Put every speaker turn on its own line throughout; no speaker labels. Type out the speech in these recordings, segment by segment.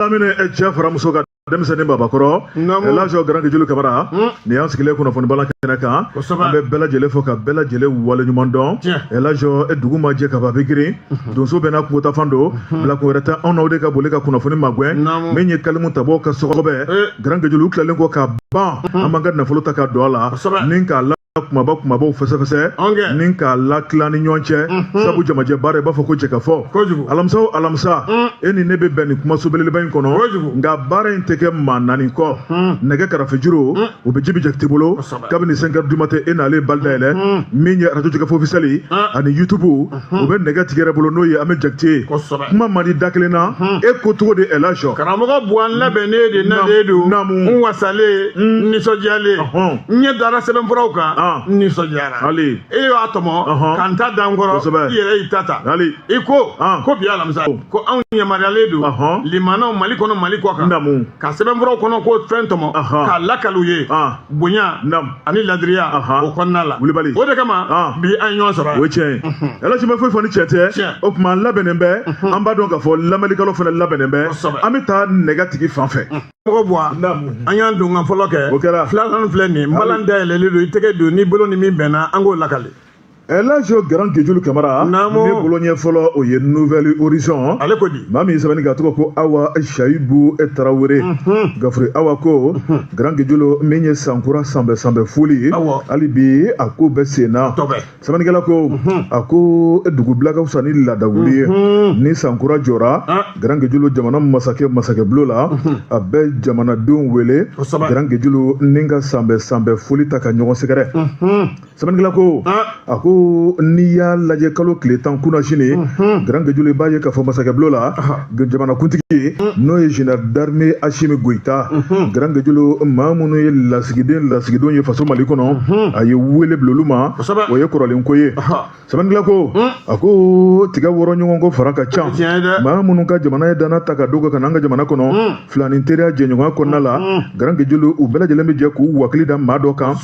lamini e cɛ fara muso kan denmisɛnnin babakɔrɔ laji garan gejulu kamara hmm. nin y'an sigilen kunnafoni balan kɛnɛ kan an bɛ bɛɛ lajɛlen fo ka bɛɛ lajɛlen waleɲuman dɔn laji e dugu ma jɛ ka ban bɛɛ girin hmm. donso bɛɛ n'a kungotafan don hmm. bilakun wɛrɛ tɛ anw n'aw de ka boli ka kunnafoni magɛn min ye kalimu tabɔ ka sɔgɔbɛ eh. garan gejulu tilalen kɔ ka ban an b'an ka nafolo ta ka don a la ni k'a kumaba kumabaw fɛsɛfɛsɛ ni k'a latila ni ɲɔgɔn cɛ mhm. sabu jamajɛ baara i b'a fɔ ko jɛkafɔ alamisa o alamisa mm. e ni ne bɛ bɛn nin kumaso belebeleba in kɔnɔ nka baara in tɛ kɛ maa naani kɔ mm. nɛgɛ karafejuru mm. o bɛ jibi jakite bolo kabini cinq heures du matin e n'ale bali dayɛlɛ min ye radio jɛkafɔ officiel ani YouTube o bɛ nɛgɛtigi yɛrɛ bolo n'o ye an bɛ jakite ye kuma man di da kelen na e ko cogo di ɛlaji karamɔgɔ buwa n labɛnnen
de nalen don n wasalen n nisɔndiyalen n ɲɛ dara sɛbɛnfuraw kan n nisɔndiyara hali e y'a tɔmɔ ka n ta da n kɔrɔ i yɛrɛ y'i ta ta hali i ko ko bi alamisa ko anw yamaruyalen don lamɛnnaw mali kɔnɔ mali kɔkan ka sɛbɛnfuraw kɔnɔko fɛn tɔmɔ k'a lakali u ye bonya nam ani laadiriya o kɔnɔna la wulibali o de kama ah. bi an ɲɔgɔn sɔrɔ o tiɲɛ
ɛlaji ma foyi fɔ ni tiɲɛ tɛ o tuma an labɛnnen bɛ an b'a dɔn k'a fɔ lamɛnnikɛlaw fana labɛnnen bɛ an bɛ taa nɛgɛtigi fan fɛ mɔgɔ
buwa an y'an don ka fɔlɔ kɛ o kɛra filanan
filɛ nin ye
balan dayɛlɛlen don i tɛgɛ don n'i bolo ni min bɛnna an k'o lakali
Laji Garan Gejulu Kamara ne bolo ɲɛ fɔlɔ o ye Nouvel Horizon ale ko di maa min
ye sɛbɛnni kɛ tɔgɔ
ko Awa Sayibu Tarawele gafure Awa ko Garan Gejulu min ye sankura sanbɛ sanbɛ foli ye hali bi a ko bɛ sen na sɛbɛnnikɛla ko a ko dugu bila ka fisa ni laada wuli ye ni sankura jɔra Garan Gejulu jamana masakɛ masakɛbulon la a bɛ jamanadenw wele Garan Gejulu ni ka sanbɛ sanbɛ foli ta ka ɲɔgɔn sɛgɛrɛ. sɛbɛnnikɛla ko a ko n'i y'a lajɛ kalo tile tan kunasinin garan gejulu i b'a ye k'a fɔ masakɛbulon la jamanakuntigi ye n'o ye général d'armée asimi goyita garan gejulu maa minnu ye lasigiden lasigidenw ye faso mali kɔnɔ a ye wele bila olu ma o ye kɔrɔlenko ye sɛbɛnnikɛla ko a ko tiga wɔrɔ ɲɔgɔn kɔ fara ka ca maa minnu ka jamana ye dannaya ta k'a d'u kan ka na an ka jamana kɔnɔ filanin teriya jɛɲɔgɔnya kɔnɔna la garan gejulu u bɛɛ lajɛlen bɛ jɛ k'u wakili da maa dɔ kan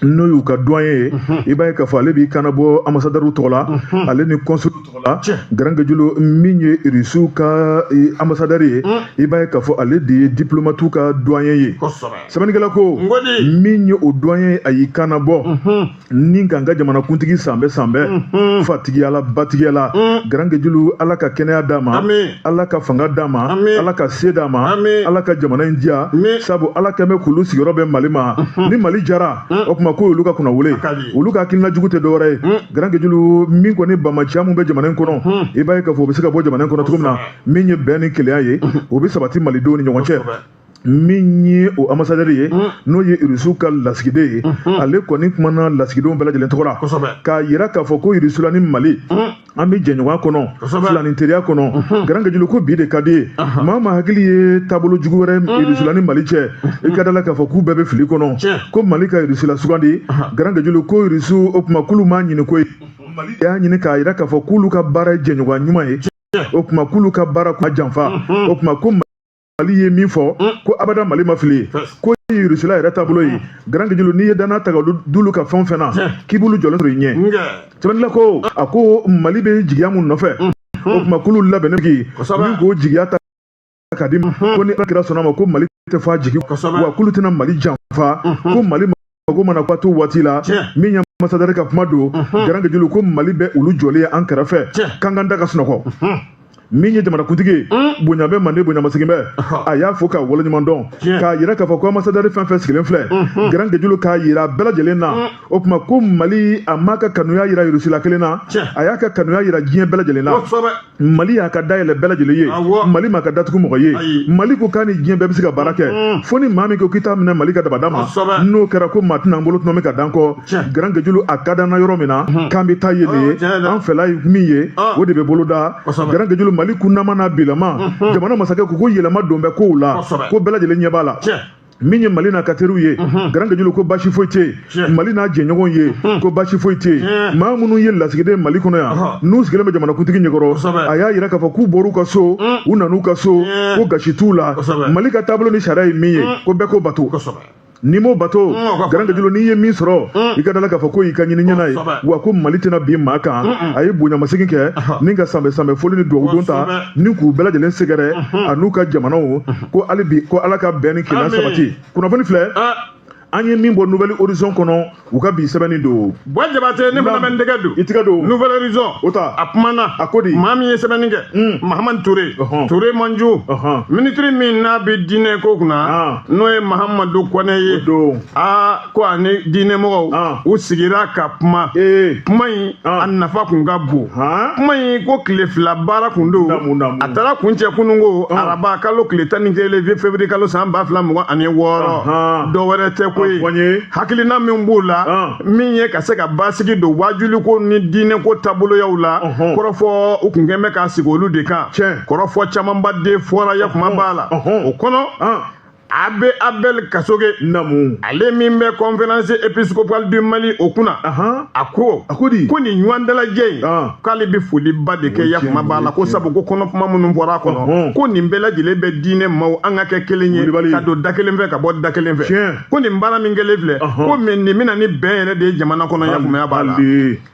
n'o y'u ka doyen ye i b'a ye k'a fɔ ale b'i kan nabɔ ambassadeurw tɔgɔ la ale ni consul tɔgɔ la garan gejulu min ye irisiw ka ambassadeur ye i b'a ye k'a fɔ ale de ye diplomatiw ka doyen ye sɛbɛnnikɛla ko min ye o doyen ye a y'i kan nabɔ ni k'an ka jamanakuntigi sanbɛ sanbɛ mhm. fatigiyala batigiyala mhm. garan gejulu ala ka kɛnɛya d'a ma ala ka fanga d'a ma ala ka se d'a ma ala ka jamana in diya sabu ala kɛn bɛ k'olu sigiyɔrɔ bɛ mali ma mhm. ni mali jara o tuma ko olu ka kunnawolo olu ka hakilina jugu tɛ dɔwɛrɛ ye garan gejulu min kɔni banbaanciya min bɛ jamana in kɔnɔ i b'a ye k'a fɔ o bɛ se ka bɔ jamana in kɔnɔ cogo min na min ye bɛn ni kelenya ye o bɛ sabati malidenw ni ɲɔgɔn cɛ min ye o amasadɛri ye n'o ye irisiw ka lasigiden ye ale kɔni kumana lasigidenw bɛɛ lajɛlen tɔgɔ la k'a yira k'a fɔ ko irisula ni mali an bɛ jɛɲɔgɔnya kɔnɔ filaninteriya kɔnɔ garan gejulu ko bi de ka di ye maa ma hakili ye taabolo jugu wɛrɛ irisula ni mali cɛ i ka d'a la k'a fɔ k'u bɛɛ bɛ fili kɔnɔ ko mali ka irisula sugandi garan gejulu ko irisiw o tuma k'olu m'a ɲini koyi mali y'a ɲini k'a yira k'a fɔ k'olu ka baara ye jɛɲɔgɔnya ɲuman ye o tuma k'olu ka baara kuma janfa o tuma ko mali ye min fɔ mm. ko abada mali ma fili ko rusila yɛrɛ taabolo ye mm. garan gejulu n'i ye dannaya ta ka d'olu kan fɛn fɛn na k'i b'olu jɔlen sɔrɔ i ɲɛ sɛbɛnnikɛla ko a ko mali bɛ jigiya mun nɔfɛ mm. o tuma k'olu labɛnnen bi min k'o jigiya ta ka di ko ni ala kira sɔnn'a ma ko mali tɛ fɔ a jigi wa k'olu tɛna mali janfa ko mali mago mana ko to waati la min ye amasadɛri ka kuma don garan gejulu ko mali bɛ olu jɔlen ye an kɛrɛfɛ k'an k'an da ka sunɔgɔ min ye jamanakuntigi mm. bonya bɛ manden bonya masegin bɛ a y'a fo k'a waleɲuman dɔn k'a yira k'a fɔ ko amasadɛri fɛn fɛn sigilen filɛ mm-hmm. garan gejulu k'a yira bɛɛ lajɛlen na mm. o tuma ko mali a m'a ka kanuya yira irusila kelen na a y'a ka kanuya yira diɲɛ bɛɛ lajɛlen na mali y'a ka da yɛlɛ bɛɛ lajɛlen ye mali m'a ka da tugu mɔgɔ ye mali ko k'a ni diɲɛ bɛɛ bɛ se ka baara kɛ mm. fo ni maa min ko k'i t'a minɛ mali ka dabada ma n'o kɛra ko maa tɛna an bolo tuma min ka dan kɔ garan gejulu a ka d'an na yɔrɔ min na mm-hmm. k'an bɛ taa yen de ye oh, an fɛla ye min ye ah. o de bɛ boloda garan gejulu mali kunnama n'a bilama mm-hmm. jamana masakɛ ko ko yɛlɛma don bɛ kow la ko bɛɛ lajɛlen ɲɛ b'a la min ye mali n'a ka teriw ye garan gejulu ko basi foyi tɛ yen mali n'a jɛɲɔgɔn ye ko basi foyi tɛ yen maa minnu ye lasigiden mali kɔnɔ yan n'u sigilen bɛ jamanakuntigi ɲɛkɔrɔ a y'a yira k'a fɔ k'u bɔr'u ka so u nan'u ka so ko gasi t'u la mali ka taabolo ni sariya ye min ye ko bɛɛ k'o bato n'i m'o bato garan gejulu n'i ye min sɔrɔ i ka d'a la k'a fɔ k'o y'i ka ɲini ɲɛna ye wa ko mali tɛna bin maa kan a ye bonyamasegin kɛ ni ka sanbɛ sanbɛ foli ni dugawudon ta ni k'u bɛɛ lajɛlen sɛgɛrɛ a n'u ka jamanaw ko hali bi ko ala ka bɛn ni kelenya sabati kunnafoni filɛ an ye min bɔ nouvel horizon kɔnɔ u ka bi sɛbɛnni don bɔyi jabate ne fana
bɛ n tɛgɛ don i tɛgɛ don nouvel horizon
o ta
a
kumana a ko
di maa min
ye sɛbɛnni
kɛ hmm. mahamani ture ture manju minitiri min n'a bɛ diinɛ ko kunna n'o ye mahamadu kɔnɛ ye aa ko ani diinɛmɔgɔw ah. u sigira ka kuma eh. kuma in ah. a nafa kun ka bon ah. kuma in ko tile fila baara kun don a taara kuncɛ kunun ko araba kalo tile tan ni kelen vi février kalo san ba fila mugan ani wɔɔrɔ dɔ wɛrɛ tɛ ko ye hakilina min b'o la min ye ka se ka basigi don waajuliko ni diinɛko taaboloyaw la kɔrɔfɔ u kun kɛn bɛ ka sigi olu de kan kɔrɔfɔ camanba de fɔra yakuma b'a la o kɔnɔ abbé abel kasoge namu ale min bɛ conférence épiscopale du mali o kunna a ko a ko di ko nin ɲɔgɔn dalajɛ in k'ale bɛ foliba de kɛ yakuma b'a la ko sabu ko kɔnɔkuma minnu bɔra a kɔnɔ ko nin bɛɛ lajɛlen bɛ diinɛ maaw an ka kɛ kelen ye ka don da kelen fɛ ka bɔ da kelen fɛ ko nin baara min kɛlen filɛ ko mɛ nin bɛ na ni bɛn yɛrɛ de ye jamana kɔnɔ yakumaya b'a la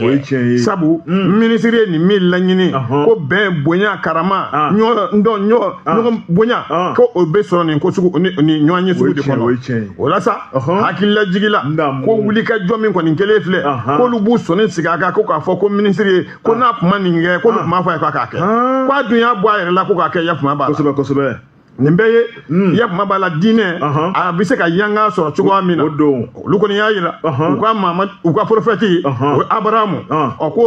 o ye tiɲɛ ye sabu mm. minisiri ye nin min laɲini ko bɛn bonya karama ah. ɲɔgɔn dɔn ɲɔgɔn ah. ɲɔgɔn bonya ah. ko o bɛ sɔrɔ nin ko sugu ni ɲɔgɔnye sugu de kɔnɔ o la sa hakililajigi la ko wulikajɔ min kɔni kɛlen filɛ k'olu b'u sɔnni sigi a kan ko k'a fɔ ko minisiri ye ko n'a kuma nin kɛ k'olu kuma fɔ a ye k'a k'a kɛ k'a dun y'a bɔ a yɛrɛ la ko k'a kɛ yakuma b'a la kosɛbɛ kosɛbɛ nin bɛɛ ye hmm. yakuma b'a la diinɛ uh-huh. a bɛ se ka yanga sɔrɔ cogoya min na o don olu kɔni y'a jira uh-huh. u ka maama u ka porofɛti uh-huh. o ye abrahamu ɔ ko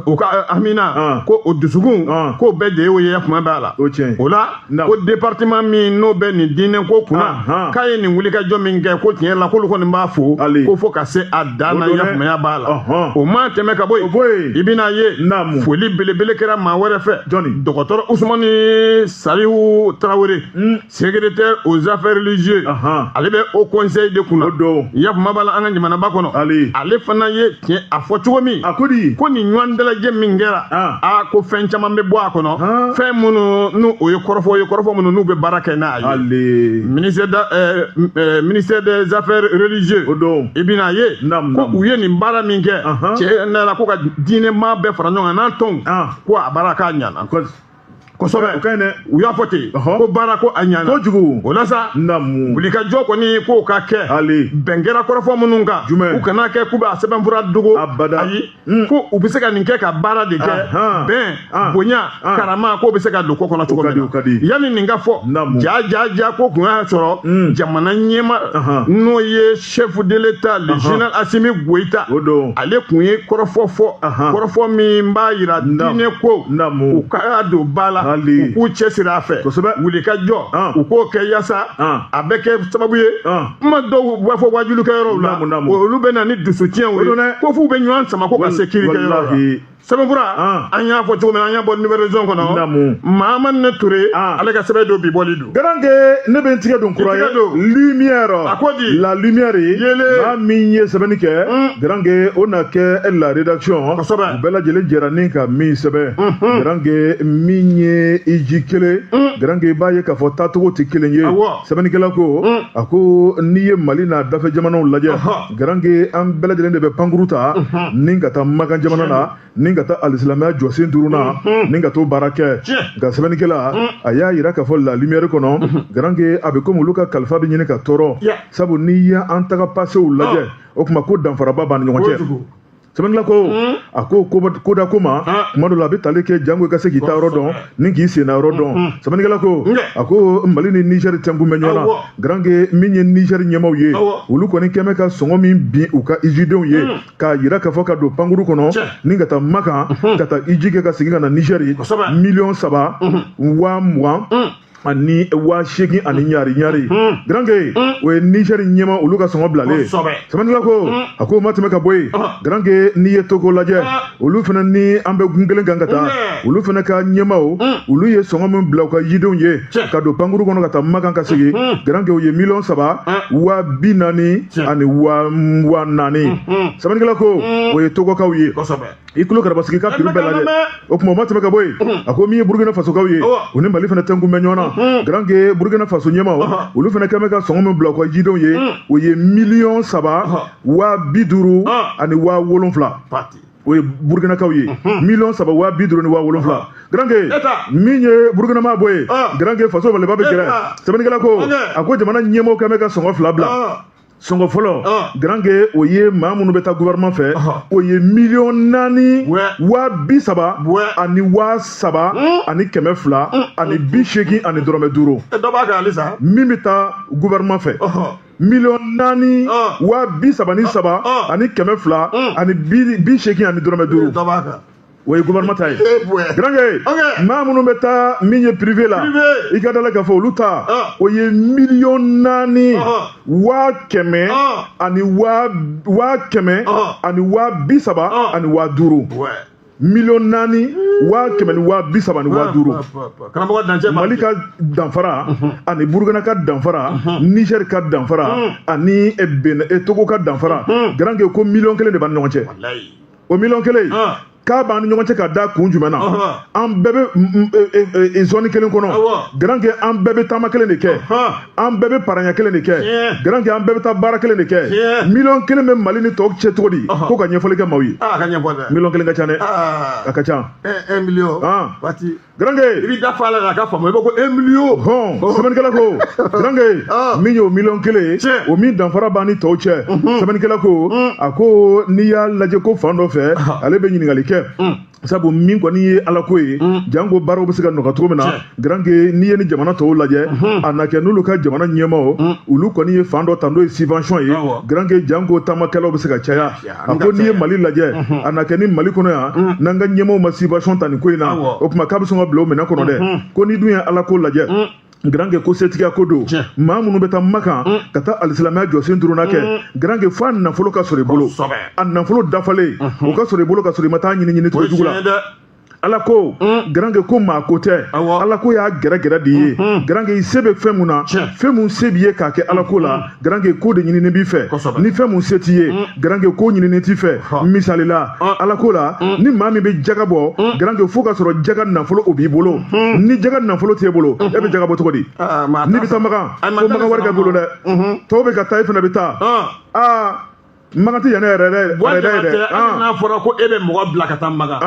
u ka haminako o dusukunko bɛɛ de ye o ye yakuma b'a la o la ko département min n'o bɛ nin diinɛko kunna k'a ye nin wulikajɔ min kɛ ko tiɲɛ la k'olu kɔni b'a fo ko fo ka se a dan na yakumaya b'a la o ma tɛmɛ ka bɔ yen i bɛn'a ye foli belebele kɛra maa wɛrɛ fɛ dɔgɔtɔrɔ usumani salihu tarawele hmm. secrétaire aux affaires religieuses ale bɛ haut conseil de kunna yakuma b'a la an ka jamanaba kɔnɔ ale fana ye tiɲɛ a fɔ cogo min a ko di ko nin ɲɔgɔn dalajɛ min kɛra a ko fɛn caman bɛ bɔ a kɔnɔ fɛn minnu n'u o ye kɔrɔfɔ ye kɔrɔfɔ minnu n'u bɛ baara kɛ n'a ye ministère da eh, eh, ministère des affaires religieuses o don i bɛn'a ye ko u ye nin baara min kɛ tiɲɛ na ko ka diinɛmaa bɛɛ fara ɲɔgɔn kan n'an tɔnw ko a baara k'a ɲana kosɛbɛ o ka ɲi dɛ u y'a fɔ ten ko baara ko a ɲana kojugu o la sa namu wulikajɔ kɔni k'o ka kɛ hali bɛn kɛra kɔrɔfɔ minnu kan jumɛn u kana kɛ k'u b'a sɛbɛnfura dogo abada ayi hmm. ko u bɛ se ka nin kɛ ka baara de kɛ bɛn ah. bonya ah. karama k'o bɛ se ka don ko kɔnɔ cogo min na yanni nin ka fɔ ja ja ja k'o kun y'a sɔrɔ hmm. jamana ɲɛmaa n'o ye chef de l'état le général assimi goïta o don ale kun ye kɔrɔfɔ fɔ kɔrɔfɔ min b'a yira diinɛko u ka don ba la u k'u cɛsiri a fɛ kosɛbɛ wulikajɔ u k'o kɛ yaasa a bɛ kɛ sababu ye kuma dɔw b'a fɔ waajulikɛyɔrɔw la olu bɛ na ni dusutiɲɛw ye ko f'u bɛ ɲɔgɔn sama ko ka se kirikɛyɔrɔ la sɛbɛnfura ah. an y'a fɔ cogo min an y'a bɔ nouvel horizon kɔnɔ mahamane ture ah. ale ka sɛbɛn don bi bɔli don garanke ne bɛ n tigɛ
don kura ye lumière a ko di la
lumière yele
maa min ye sɛbɛnni kɛ hmm. garanke o na kɛ la rédaction u bɛɛ lajɛlen jɛra ni ka min sɛbɛn hmm, hmm. garanke min ye iji kelen garanke i b'a ye k'a fɔ taacogo tɛ kelen ye sɛbɛnnikɛla ko a ko n'i ye mali n'a dafɛ jamanaw lajɛ garange an bɛɛ lajɛlen de bɛ pankuru ta ni ka taa makan jamana na ni ka taa alisilamɛya jɔsen duurunan ni ka t'o baara kɛ nka sɛbɛnnikɛla a y'a yira k'a fɔ la lumière kɔnɔ garange a bɛ komi olu ka kalifa bɛ ɲini ka tɔɔrɔ sabu n'i ye an taga pasew lajɛ o tuma ko danfaraba b'an ni ɲɔgɔn cɛ sɛbɛnnikɛla ko a ko ko da ko ma kuma dɔ la a bɛ tali kɛ jango i ka se k'i ta yɔrɔ dɔn ni k'i senna yɔrɔ dɔn sɛbɛnnikɛla ko a ko mali ni nizɛri tɛnkun bɛ ɲɔgɔn na garanke min ye nizɛri ɲɛmaaw ye olu kɔni kɛlen bɛ ka sɔngɔ min bin u ka ijidenw ye k'a yira k'a fɔ ka don pankuru kɔnɔ ni ka taa makan ka taa iji kɛ ka segin ka na nizɛri miliyɔn saba waa mugan ani waa seegin ani ɲari ɲari garanke o ye nizɛri ɲɛmaa olu ka sɔngɔ bilalen ye sɛbɛnnikɛla ko a k'o ma tɛmɛ ka bɔ yen garanke n'i ye togo lajɛ olu fana ni an bɛ gun kelen kan ka taa olu fana ka ɲɛmaw olu ye sɔngɔ min bila u ka ijidenw ye ka don pankuru kɔnɔ ka taa makan ka segin garanke o ye miliyɔn saba waa bi naani ani waa naani sɛbɛnnikɛla ko o ye togokaw ye i tulo karabasigi ka piri bɛɛ lajɛ o tuma o ma tɛmɛ ka bɔ yen a ko min ye burukina fasokaw ye u ni mali fana tɛnkun bɛ ɲɔgɔn na garanke burukina faso ɲɛmaw olu fana kɛlen bɛ ka sɔngɔ min bila u ka ijidenw ye o ye miliyɔn saba waa bi duuru ani waa wolonfila o ye burukinakaw ye miliyɔn saba waa bi duuru ni waa wolonfila garanke min ye burukina ma bɔ yen garanke faso maliba bɛ gɛrɛ sɛbɛnnikɛla ko a ko jamana ɲɛmaw kɛlen bɛ ka sɔngɔ fila bila sɔngɔ fɔlɔ garanke o ye maa minnu bɛ taa gouvernement fɛ o ye miliyɔn naani waa bi saba ani waa saba hmm? ani kɛmɛ fila hmm. ani bi seegin ani dɔrɔmɛ duuru min bɛ taa gouvernement fɛ miliyɔn naani waa bi saba ni saba ani kɛmɛ fila hmm. ani bi seegin ani dɔrɔmɛ duuru o ye gouvernement ta ye garange maa minnu bɛ taa min ye privé la i ka dala k'a fɔ olu ta ah. o ye miliyɔn naani ah, ah. waa kɛmɛ ani waa kɛmɛ ani waa bi saba ani waa duuru miliyɔn naani waa kɛmɛ ni waa bi saba ni waa duuru mali ka danfara mhm. ani burukina ka danfara mhm. niger ka danfara mhm. ani eh, eh, togo ka danfara garange ko miliyɔn kelen de b'an ni ɲɔgɔn cɛ o miliyɔn kelen k'a b'an ni ɲɔgɔn cɛ ka da kun jumɛn na an bɛɛ bɛ zɔni kelen kɔnɔ garanke an bɛɛ bɛ taama kelen de kɛ an bɛɛ bɛ paranya kelen de kɛ garanke an bɛɛ bɛ taa baara kelen de kɛ miliyɔn kelen bɛ mali ni tɔw cɛ cogo di ko ka ɲɛfɔli kɛ maaw ye miliyɔn kelen ka ca dɛ a ka ca Garange i b'i da fa
la k'a ka faamu i b'a ko un million hɔn sɛbɛnnikɛla
ko Garange min y'o miliyɔn kelen ye Tiɲɛ. o min danfara b'an ni tɔw cɛ sɛbɛnnikɛla ko a ko n'i y'a lajɛ ko fan dɔ fɛ ale bɛ ɲininkali kɛ sabu min kɔni ye ala ko ye janko baaraw bɛ se ka nɔgɔya cogo min na Tiɲɛ. Garange n'i ye ni jamana tɔw lajɛ a na kɛ n'olu ka jamana ɲɛmaaw olu kɔni ye fan dɔ ta n'o ye subvention ye Awɔ. Garange janko taamakɛlaw bɛ se ka caya Lafiya. a ko n'i ye mali lajɛ a na kɛ ni mali kɔnɔ yan n'an ka ɲɛmaaw ma subvention ta nin ko in na o tuma k'a bɛ sɔn ka bila o minɛ kɔnɔ dɛ ko n'i dun ye ala ko lajɛ garanke ko setigiya ko don maa minnu bɛ taa makan ka taa alisilamɛya jɔsen duurunan kɛ garanke fo a nafolo ka sɔrɔ i bolo a nafolo dafalen o ka sɔrɔ i bolo ka sɔrɔ i ma taa ɲini ɲini cogo jugu la ala ko mm. garange ko maa ko tɛ ala ko y'a gɛrɛgɛrɛ de ye mm-hmm. garange i se bɛ fɛn mun na fɛn mun se b'i ye k'a kɛ ala ko la mm-hmm. garange k'o de ɲinini b'i fɛ ni fɛn mun se t'i ye mm. garange k'o ɲinini t'i fɛ misali la ah. ala ko la mm. ni maa min bɛ jaga bɔ garange fo k'a sɔrɔ jaga nafolo o b'i bolo mm-hmm. ni jaga nafolo t'e bolo e bɛ jaga bɔ cogo di ah, ah, n'i bɛ taa makan ko makan wari b'i bolo dɛ tɔw bɛ ka taa e fana bɛ taa aa makan tɛ yɛlɛ yɛrɛ dɛ yɛrɛ dɛ hali n'a fɔra ko e
bɛ mɔgɔ bila ka taa makan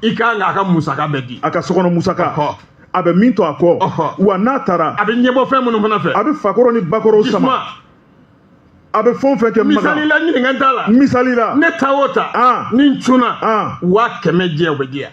i kan k'a ka musaka bɛɛ di a ka sokɔnɔ musaka
a bɛ min to a kɔ wa n'a taara a bɛ ɲɛbɔ fɛn minnu fana
fɛ a bɛ fakɔrɔ ni bakɔrɔw
sama a bɛ fɛn o fɛn kɛ makan misali la ɲininkali t'a la
misali la ne ta o
ta
ni n cunna waa kɛmɛ jɛ o bɛ di yan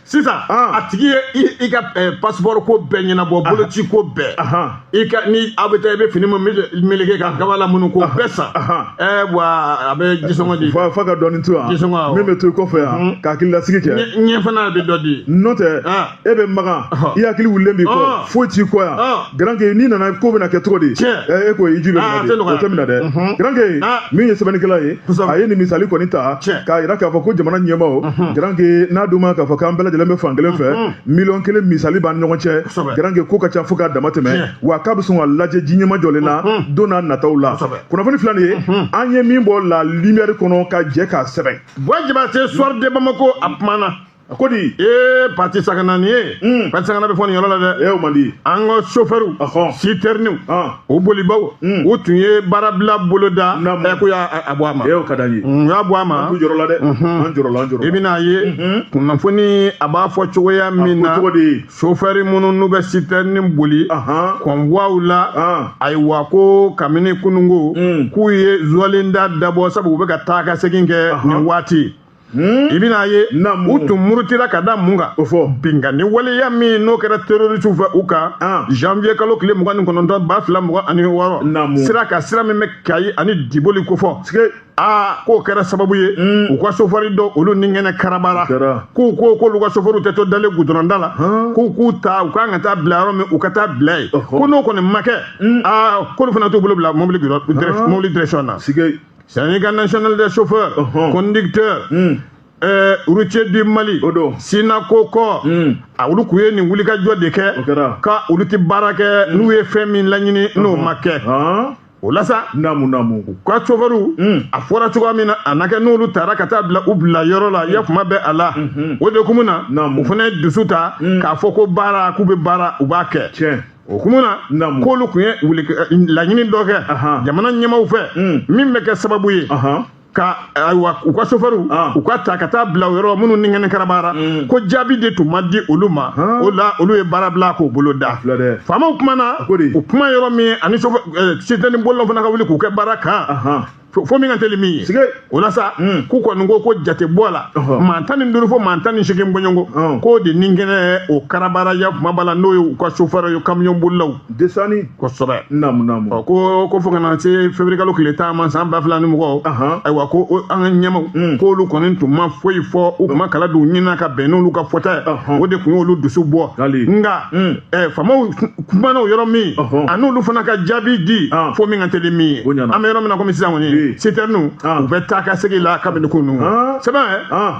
sisan ah.
a tigi ye i ka eh, pasipɔri ko bɛɛ ɲɛnabɔ ah. boloci ko bɛɛ i ka ni aw bɛ taa i bɛ fini min meleke ka kaba lamunu k'o ah. bɛɛ san eh, ɛɛ wa a bɛ jisɔngɔ di fa ka dɔɔni to yan
jisɔngɔ awɔ min bɛ to i kɔfɛ yan mm. ka hakililasigi kɛ ɲɛ fana bɛ dɔ di
n'o tɛ e
bɛ makan i hakili wulilen b'i kɔ foyi t'i kɔ yan. garanke n'i nana k'o bɛna kɛ cogo di e ko hiji bɛ ah, o tɛ minɛ dɛ mhm. garanke ah. min ye sɛbɛnnikɛla ye a ye nin misali kɔni ta k'a yira k'a fɔ ko jamana ɲɛmaaw mhm. garanke n'a dun ma k'a fɔ k'an bɛɛ lajɛlen bɛ fan kelen fɛ mhm. miliyɔn kelen misali b'an ɲɔgɔn cɛ garanke k'o ka ca fo k'a dama tɛmɛ wa k'a bɛ sɔn ka lajɛ ji nɛma jɔlen na don n'a nataw la kunnafoni fila nin ye an ye min bɔ la limiyɛri
kɔnɔ
ka jɛ k'a sɛbɛn
bɔyi
jabatɛ
suwari
de bamako a kumana a ko di ee patisakana
nin ye Mm. patisakana bɛ fɔ nin yɔrɔ la dɛ e o man di an
ka
sofɛriw Ɔhɔn. sitɛriniw Ah. o bolibaw Mm. u tun ye baarabila boloda Naamu. ɛ k'u y'a a- a bɔ a ma e o ka d'an ye u y'a bɔ
a ma an
jɔrɔla dɛ
an jɔrɔla an jɔrɔla i bɛn'a ye
Mhm. kunnafoni a b'a fɔ cogoya min na ko cogo di sofɛri minnu n'u bɛ sitɛrini boli ahan kɔnbuwaw la an ayiwa ko kabini kununko Mm. k'u ye zuwalinda dabɔ sabu u bɛ ka taa ka segin kɛ Ahan. nin waati Hmm? i bɛn'a ye u tun murutira ka da mun kan o fɔ binkanni waleya min n'o kɛra terorisiw fɛ u kan ah. janvier kalo tile mugan ni kɔnɔntɔn ba fila mugan ani wɔɔrɔ sira ka sira min bɛ kayi ani diboli kofɔ aa k'o kɛra sababu ye hmm. u ka sofɔri dɔ olu ni kɛnɛ karabara k'u ko k'olu ka sofɔriw tɛ to dalen gudɔrɔnda la k'u k'u ta u kan ka taa bila yɔrɔ min u ka taa bila yen ko n'o kɔni ma kɛ hmm. aa k'olu fana t'u bolo bila mobili direction na Syndicat national des chauffeurs. Uh-huh. conducteurs. Hmm. Eh, routiers du Mali. o don Synacor ko. Hmm. a olu tun ye nin wulikajɔ de kɛ. o kɛra ka olu tɛ baara kɛ hmm. n'u ye fɛn min laɲini n'o uh-huh. ma kɛ. Ah. o la sa. naamu naamu. u ka sofɛriw. a fɔra cogoya min na a na kɛ n'olu taara ka taa bila u bila yɔrɔ la ya kuma bɛ a la. o de kun na. naamu u fana ye dusu ta. k'a fɔ ko baara k'u bɛ baara u b'a kɛ. tiɲɛ. o kun na Naamu. k'olu tun ye wuli laɲini dɔ kɛ Ahan. jamana ɲɛmaaw fɛ Mm. min bɛ kɛ sababu ye Ahan. ka ayiwa u ka sofɛriw Ah. u ka ta ka taa bila yɔrɔ minnu ni kɛnɛ karabara Mm. k'o jaabi de tun ma di olu ma Ah. o la olu ye baara bila k'o bolo da filɛ dɛ. faamaw kumana ko di? u kuma yɔrɔ min ani sofɛ sitɛni bolilaw fana ka wuli k'u kɛ baara kan Ahan. fo min ka teli min ye o la sa hmm. k'u kɔni ko ko jate bɔ a la maa tan ni duuru fo maa tan ni seegin bɔɲɔgɔnko k'o de ni kɛnɛ o karabara ya kuma b'a la n'o ye u ka sofɛrɛ ye kamiyɔn bolilaw desani kosɛbɛ naamu naamu ɔ ko ko fo ka na se février kalo tile tan ma san ba fila ni mugan ayiwa ko an ka ɲɛmaaw hmm. k'olu kɔni tun ma foyi fɔ u tun ma kala don ɲinina ka bɛn n'olu ka fɔta ye o de tun y'olu dusu bɔ nka hmm. faamaw kumana o yɔrɔ min ani olu fana ka jaabi di fo min ka teli min ye an bɛ yɔrɔ min na komi sisan kɔni sitɛriniw u bɛ taa ka segin la kabini kunun sɛbɛn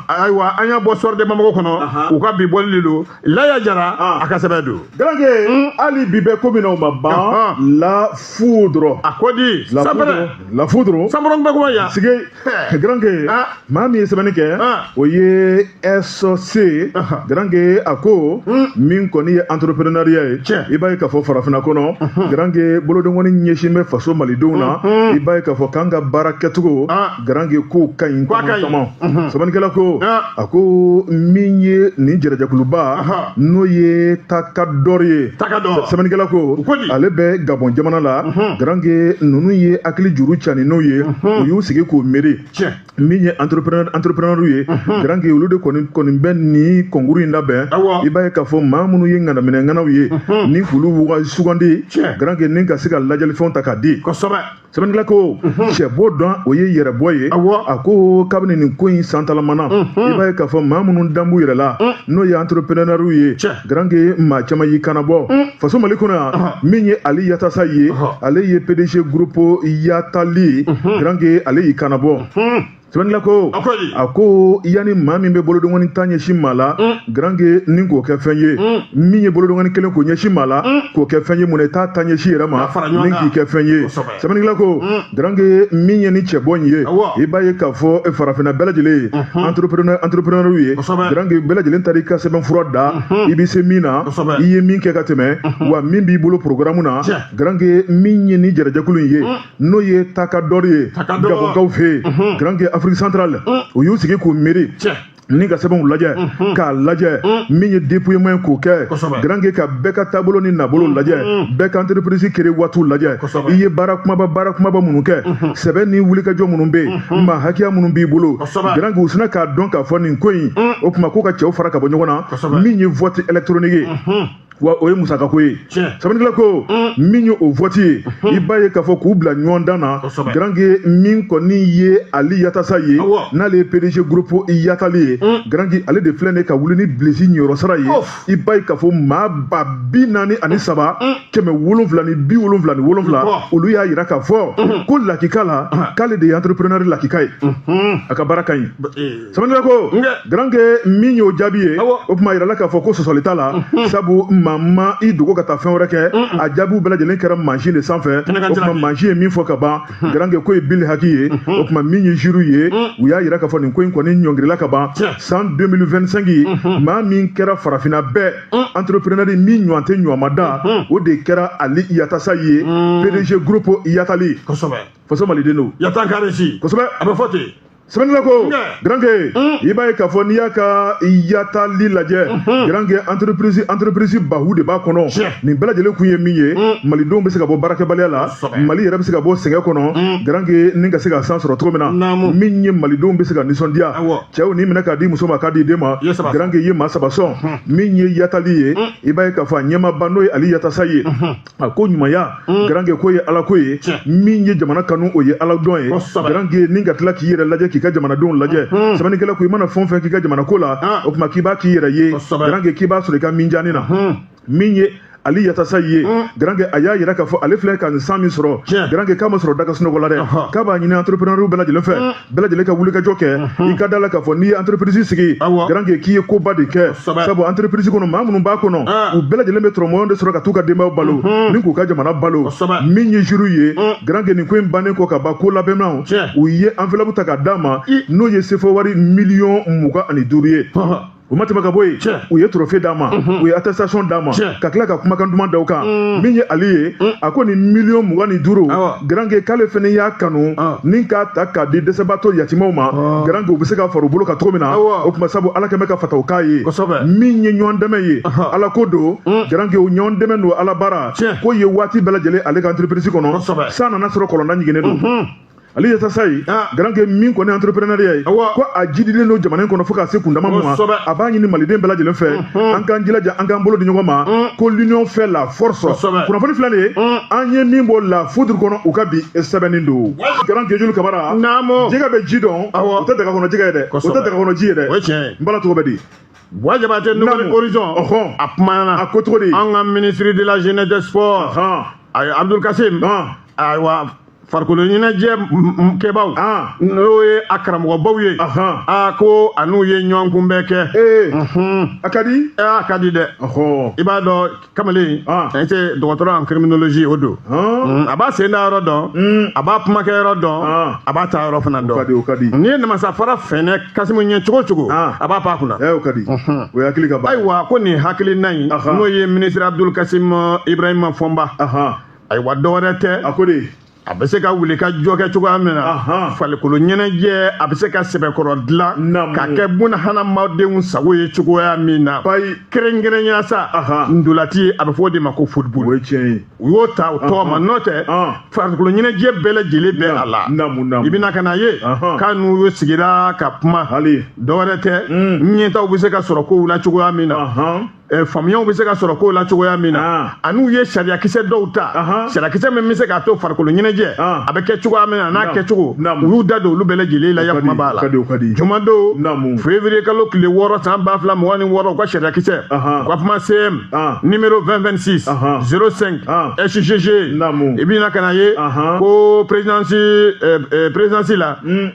ayiwa an y'a bɔ soir de bamako kɔnɔ u ka bi bɔli de don laya jara a ka sɛbɛn don garanke hmm?
hali bi bɛ ko min na o ma ban la foudre a ko di
sanpɛrɛ la foudre
sanpɛrɛ bɛ kuma yan sigi garanke maa min ye sɛbɛnni kɛ o ye ɛsɔse garanke a ko min kɔni ye entrepreneuriat ye i b'a ye k'a fɔ farafinna kɔnɔ garanke bolodengɔni ɲɛsin bɛ faso malidenw na i b'a ye k'a fɔ k'an ka baara kɛcogo garanke k'o ka ɲi caman sɛbɛnnikɛla ko a ko min ye nin jɛrɛjɛkuluba n'o ye takadɔri ye sɛbɛnnikɛla ko ale bɛ gabɔn jamana la garange ninnu ye hakili juru cani n'o ye u y'u sigi k'o miiri min ye entrepreneur ye garange olu de kɔni bɛ nin kɔnkuru in labɛn i b'a ye k'a fɔ maa minnu ye ŋanaminɛŋanaw ye ni k'olu sugandi garange ni ka se ka ladiyalifɛnw ta k'a di sɛbɛnnikɛla ko cɛbɔ don o ye yɛrɛbɔ ye a ko kabini nin ko in santalamana i b'a ye k'a fɔ maa minnu dan b'u yɛrɛ la n'o ye entreprenɛriw ye garanke maa caman y'i kanabɔ faso mali kɔnɔ yan min ye ali yatasaye ale ye pdg groupe yatali ye garanke ale y'i kanabɔ sɛbɛnnila ko a ko yanni maa min bɛ bolodongɔni tan ɲɛsin maa la mm. garange ni k'o kɛ fɛn ye mm. min ye bolodongɔni kelen k'o ɲɛsin maa la mm. k'o kɛ fɛn ye mun na i t'a ta ɲɛsin yɛrɛ ma ni k'i kɛ fɛn ye sɛbɛnnikɛla ko garange min ye nin cɛbɔ in ye i b'a ye k'a fɔ farafinna bɛɛ lajɛlen ye mm-hmm. entrepreneur ye garange bɛɛ lajɛlen taara i ka sɛbɛnfura da mm-hmm. i bɛ se min na i ye min kɛ ka tɛmɛ mm-hmm. wa min b'i bolo programme na garange min ye nin jɛrɛjɛkulu in ye n'o ye takadɔri ye gabɔnkaw fɛ yen garanke afrique centrale u y'u sigi k'u miiri ni ka sɛbɛnw lajɛ k'a lajɛ min ye dépouillement ye k'o kɛ garanke ka bɛɛ ka taabolo ni nabolo lajɛ bɛɛ ka entreprise créé waatiw lajɛ i ye baara kumaba baara kumaba minnu kɛ sɛbɛn ni wulikajɔ minnu bɛ yen maa hakɛya minnu b'i bolo garanke u sina k'a dɔn k'a fɔ nin ko in o tuma k'u ka cɛw fara ka bɔ ɲɔgɔn na min ye vote électronique ye wa o ye musaka ko ye sɛbɛnnikɛla ko mm. min ye o vote ye mm-hmm. i b'a ye k'a fɔ k'u bila ɲɔgɔn dan na garange min kɔni ye ali yattassaye ye n'ale ye pdg groupe yatali ye mm. garange ale de filɛ ne ka wuli ni bilisi ɲɛyɔrɔ sara ye i b'a ye k'a fɔ maa ba bi naani ani mm. saba kɛmɛ wolonfila ni bi wolonfila ni wolonfila olu y'a yira k'a fɔ mm-hmm. ko lakika la ah. k'ale de ye entrepreneur lakika ye mm-hmm. a ka baara ka ɲi sɛbɛnnikɛla ko garanke min y'o jaabi ye o tuma yirala k'a fɔ ko sɔsɔli t'a la mhm. sabu maa ma i dogo ka taa fɛn wɛrɛ kɛ mhm. a jaabiw bɛɛ lajɛlen kɛra mansin de sanfɛ o tuma mansin ye min fɔ ka ban mhm. garanke ko ye bil haki ye o tuma min ye jury ye u y'a yira k'a fɔ nin ko in kɔni ɲɔngirila ka ban san 2025 maa min kɛra farafinna bɛɛ entrepreneur min ɲɔgɔn tɛ ɲɔgɔn ma da o de kɛra ali yattassaye ye pdg groupe yatali kosɛbɛ faso maliden don yatan karesi kosɛbɛ
a bɛ fɔ ten sɛbɛnnila
ko garanke i b'a ye k'a fɔ n'i y'a ka yatali lajɛ garanke entreprise baw de b'a kɔnɔ nin bɛɛ lajɛlen kun ye min ye malidenw bɛ se ka bɔ baarakɛbaliya la mali yɛrɛ bɛ se ka bɔ sɛgɛn kɔnɔ garanke ni ka se ka san sɔrɔ cogo min na min ye malidenw bɛ se ka nisɔndiya cɛw ni minɛ k'a di muso ma k'a di den ma garanke ye maa saba sɔn min ye yatali ye i b'a ye k'a fɔ a ɲɛmaaba n'o ye ali yattassaye ye a ko ɲumanya mm. garange ko ye ala ko ye min ye jamana kanu o ye ala dɔn ye garange ni ka tila k'i yɛrɛ lajɛ k'i ka jamanadenw lajɛ mm-hmm. sɛbɛnnikɛla ko i mana fɛn o fɛn k'i ka jamana ko la ah. o tuma k'i b'a k'i yɛrɛ ye garange k'i b'a sɔrɔ i ka minjani na mm-hmm. min ye ali yattassaye ye mm. garange a y'a yira k'a fɔ ale filɛ ka nin san min sɔrɔ garange k'a ma sɔrɔ da ka sunɔgɔ la dɛ k'a b'a ɲini entrepreneur bɛɛ lajɛlen fɛ mm. bɛɛ lajɛlen ka wulikajɔ kɛ i ka da la k'a fɔ n'i ye entreprise sigi garanke k'i ye koba de kɛ sabu entreprise kɔnɔ maa minnu b'a kɔnɔ u bɛɛ lajɛlen bɛ tɔrɔmɔyɔn de sɔrɔ ka t'u ka denbayaw balo ni k'u ka jamana balo min ye jury ye garanke nin ko in bannen kɔ ka ban ko labɛnnaw u ye enveloppe ta k'a d'a ma n'o ye sefa wari miliyɔn mugan ani duuru ye u ma tɛmɛ ka bɔ yen u ye trophée d'a ma u ye attestation d'a ma ka tila ka kumakan duman da o kan min ye ali ye a ko nin miliyɔn mugan ni duuru garange k'ale fɛnɛ y'a kanu ni k'a ta k'a di dɛsɛbaatɔ yatimaw ma garange u bɛ se ka fara u bolo kan cogo min na o tuma sabu ala kɛn bɛ ka fataw k'a ye min ye ɲɔgɔn dɛmɛ ye ala ko don garange o ɲɔgɔn dɛmɛ don ala baara k'o ye waati bɛɛ lajɛlen ale ka entreprise kɔnɔ san nana sɔrɔ kɔlɔnda ɲiginnen don ali yatasaye garange min kɔni entrepreneuriat ye ko a jidilen don jamana in kɔnɔ fo ka se kundama ma a b'a ɲini maliden bɛɛ lajɛlen fɛ an k'an jilaja an k'an bolo di ɲɔgɔn ma ko l'union fait la force kunnafoni filɛ nin ye an ye min bɔ la foudre kɔnɔ u ka bi sɛbɛnni don garange julu kabara jɛgɛ bɛ ji dɔn o tɛ daga kɔnɔ jɛgɛ ye dɛ o tɛ daga kɔnɔ ji ye dɛ n bala tɔgɔ bɛ di Boua
Diabaté Nouvel Horizon a kumana a ko cogo di an ka
ministre de la
jeunesse des sports Abdul Kasim ayiwa farikolo ɲɛnajɛ kɛbaaw n'o ye a karamɔgɔbaw ye a ko a n'u ye ɲɔgɔn kunbɛn kɛ a ka di
a ka di dɛ
i b'a dɔn kamalen in tɛ dɔgɔtɔrɔ en criminologie o don a b'a sen da yɔrɔ dɔn a b'a kumakɛ yɔrɔ dɔn a b'a ta yɔrɔ fana dɔn n'i ye namasafara fɛnɛ kasimu ɲɛ cogo cogo a b'a pan kunna
ayiwa ko nin hakilina
in n'o ye minisiri abudul kasim ibrahima fɔnba ayiwa dɔwɛrɛ tɛ a ko de a
bɛ se ka
wulikajɔ kɛ cogoya min na farikolo ɲɛnajɛ a bɛ se ka sɛbɛkɔrɔ dilan ka kɛ buna hadamadenw sago ye cogoya min na kɛrɛnkɛrɛnya sa ntolaci a bɛ fɔ o de ma ko
football
u
y'o ta o tɔgɔ
ma n'o tɛ farikolo ɲɛnajɛ bɛɛ lajɛlen bɛ a la i bɛna ka n'a ye k'a n'u sigira ka kuma dɔwɛrɛ tɛ ɲɛtaaw bɛ se ka sɔrɔ kow la cogoya min na Eh, faamuyaw bɛ se ka sɔrɔ kow la cogoya min na ah. a n'u ye sariyakisɛ dɔw ta sariyakisɛ min bɛ se k'a to farikolo ɲɛnajɛ ah. a bɛ kɛ cogoya min na a n'a kɛcogo u y'u da don olu bɛɛ lajɛlen la yakuma b'a la jumadon février kalo tile wɔɔrɔ san ba fila mugan ni wɔɔrɔ u ka sariyakisɛ u ka kuma cm ah. numéro 2026 05 sgg i bɛna ka n'a ye ko présidence eh, eh, présidence la hmm.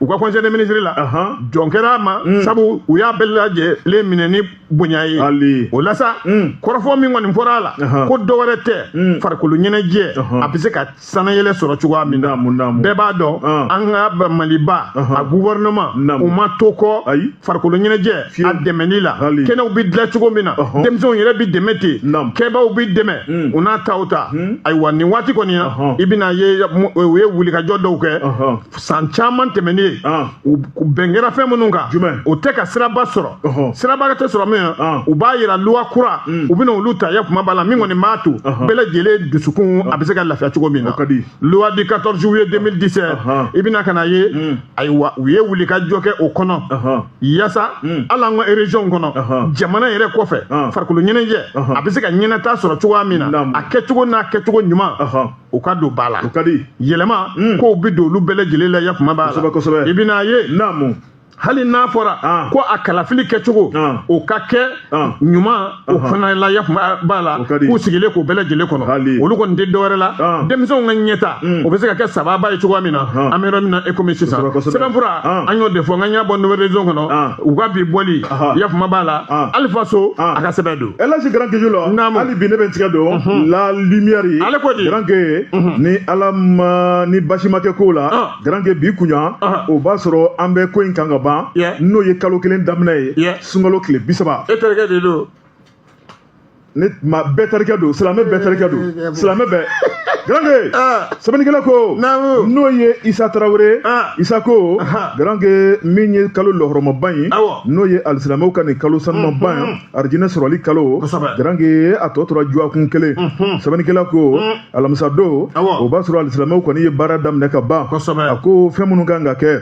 u ka conseil des ministres la jɛn kɛra a ma mm. sabu u y'a bɛɛ lajɛlen minɛ ni bonya ye o la sa mm. kɔrɔfɔ min kɔni fɔra a la ko dɔ wɛrɛ tɛ mm. farikolo ɲɛnajɛ a bɛ se ka sanayɛlɛ sɔrɔ cogoya min na bɛɛ b'a dɔn an ka maliba a gouvernement u ma to kɔ farikolo ɲɛnajɛ a dɛmɛni la kɛnɛw bɛ dilan cogo min na denmisɛnw yɛrɛ bɛ dɛmɛ ten kɛbaaw bɛ dɛmɛ u n'a taw ta ayiwa nin waati kɔni na i bɛn'a ye u ye wulikajɔ dɔw kɛ san caman tɛmɛnen u bɛn kɛra fɛn minnu kan o tɛ ka siraba sɔrɔ siraba tɛ sɔrɔ min na u b'a yira loi kura mm. u bɛna olu ta ya kuma b'a la min kɔni b'a to bɛɛ lajɛlen dusukun a bɛ se ka lafiya cogo min na loi du 14 juillet 2017 i bɛna ka n'a ye mm. ayiwa u ye wulikajɔ kɛ o kɔnɔ yaasa mm. hali an ka région kɔnɔ jamana yɛrɛ kɔfɛ farikolo ɲɛnajɛ a bɛ se ka ɲɛnata sɔrɔ cogoya min na a kɛcogo n'a kɛcogo ɲuman u ka don ba la o ka di
yɛlɛma hmm. kow
bɛ don olu bɛɛ lajɛlen la ya kuma b'a la kosɛbɛ kosɛbɛ i bɛn'a
ye
naamu
hali n'a fɔra
ah. ko a kalafili kɛcogo ah. o ka kɛ ah. ɲuman o fana la ya kuma b'a la k'u sigilen k'o bɛɛ lajɛlen kɔnɔ olu kɔni tɛ dɔwɛrɛ la denmisɛnw ka ɲɛtaa hmm. o bɛ se ka kɛ sababa ye cogoya min na an bɛ yɔrɔ min na e komi sisan sɛbɛnfura an y'o de fɔ nka n y'a bɔ Nouvel Horizon kɔnɔ u ka bi bɔli ya kuma b'a la alifa so a ka sɛbɛn don Elhadji Grand Keju la
Naamu. hali bi ne bɛ n tigɛ don la lumière ye Ale ko di? Grand
Ke
ni ala ma ni baasi ma kɛ ko la Ah. Grand Ke bi kunya Ah. o b'a sɔrɔ an bɛ ko in kan ka ban Yeah. n'o ye kalo kelen daminɛ ye Yeah. sunkalo tile bisaba e terikɛ de don ne maa bɛɛ terikɛ don silamɛ bɛɛ terikɛ don silamɛ bɛɛ Grand Ke Ah. sɛbɛnnikɛla ko Naamu. n'o ye Isa Tarawele Ah. Isa ko Aha. Grand Ke min ye kalo lahɔrɔmaba ye Awɔ. n'o ye alisilamɛw ka nin kalo sanumanba ye arijinɛ sɔrɔli kalo garanke a tɔ tora dɔgɔkun kelen sɛbɛnnikɛla ko alamisa don o b'a sɔrɔ alisilamɛw kɔni ye baara daminɛ ka ban a ko fɛn minnu ka kan ka kɛ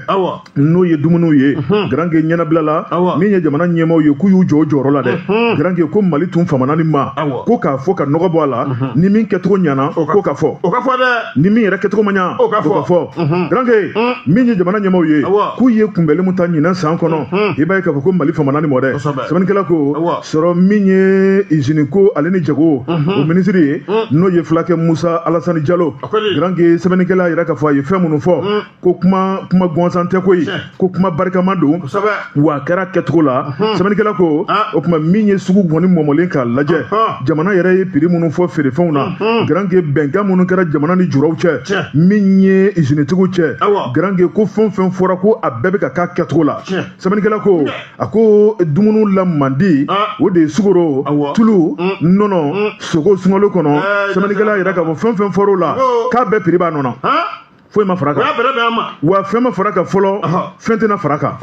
n'o ye dumuniw ye garanke ɲɛnabila la min ye jamana ɲɛmaaw ye k'u y'u jɔ u jɔyɔrɔ la dɛ garanke ko mali tun famana nin ma ko k'a fɔ ka nɔgɔ bɔ a la ni min kɛcogo ɲana k'o ka fɔ o ka fɔ dɛ ni
min yɛrɛ kɛcogo ma ɲa
o ka fɔ garanke min ye jamana ɲɛmaaw ye k'u ye kunbɛnli min ta ɲinan san kɔnɔ i b'a ye k'a fɔ ko mali famana nin ma dɛ sɛbɛnnikɛla ko sɔrɔ min ye izini ko ale ni jago o minisiri ye n'o ye fulakɛ musa alasani jalo garanke sɛbɛnnikɛla yɛrɛ ka fɔ a ye fɛn minnu fɔ ko kuma gansan tɛ koyi ko kuma barikama don wa a kɛra kɛcogo la sɛbɛnnikɛla ko o kuma min ye sugu kɔni mɔmɔlen k'a lajɛ jamana yɛrɛ ye piri minnu fɔ feerefɛnw na garanke bɛnkan minnu kɛra jamana ni juraw cɛ min ye izinitigiw cɛ garanke ko fɛn fɛn fɔra ko a bɛɛ bɛ ka k'a kɛcogo la sɛbɛnnikɛla ko a ko dumuni lamandi ah. o de ye sukaro tulu mm. nɔnɔ mm. sogo sunkalo kɔnɔ eh, sɛbɛnnikɛla yɛrɛ k'a fɔ fɛn fɛn fɔr'o la k'a bɛɛ piri b'a nɔ na foyi ma far'a kan wa fɛn ma far'a kan fɔlɔ fɛn tɛna far'a kan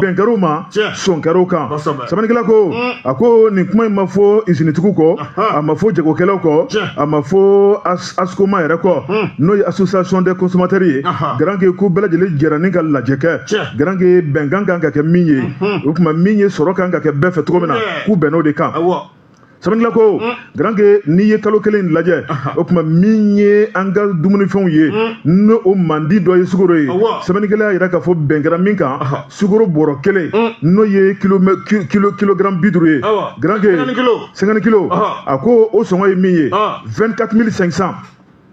bɛn kɛr'o ma sɔn kɛr'o kan sɛbɛnnikɛla ko mm. a ko nin kuma in ma fɔ izinitigiw kɔ a ma fɔ jagokɛlaw kɔ a ma fɔ ascoma yɛrɛ kɔ hmm. n'o ye association des consommateurs ye garanke ko bɛɛ lajɛlen jɛra ni ka lajɛ kɛ garanke bɛnkan kan ka kɛ min ye hmm. o tuma min ye sɔrɔ kan ka kɛ bɛɛ fɛ cogo min na k'u bɛnn'o de kan sɛbɛnnikɛla ko hmm. garanke n'i ye kalo kelen lajɛ o tuma min ye an ka dumunifɛnw ye ni o mandi dɔ ye sukoro ye sɛbɛnnikɛla y'a yira k'a fɔ bɛn kɛra min kan sukoro bɔrɔ kelen n'o ye kilogram bi duuru ye garanke cinquante kilo a ko o sɔngɔ ye min ye vingt quatre mille cinq cent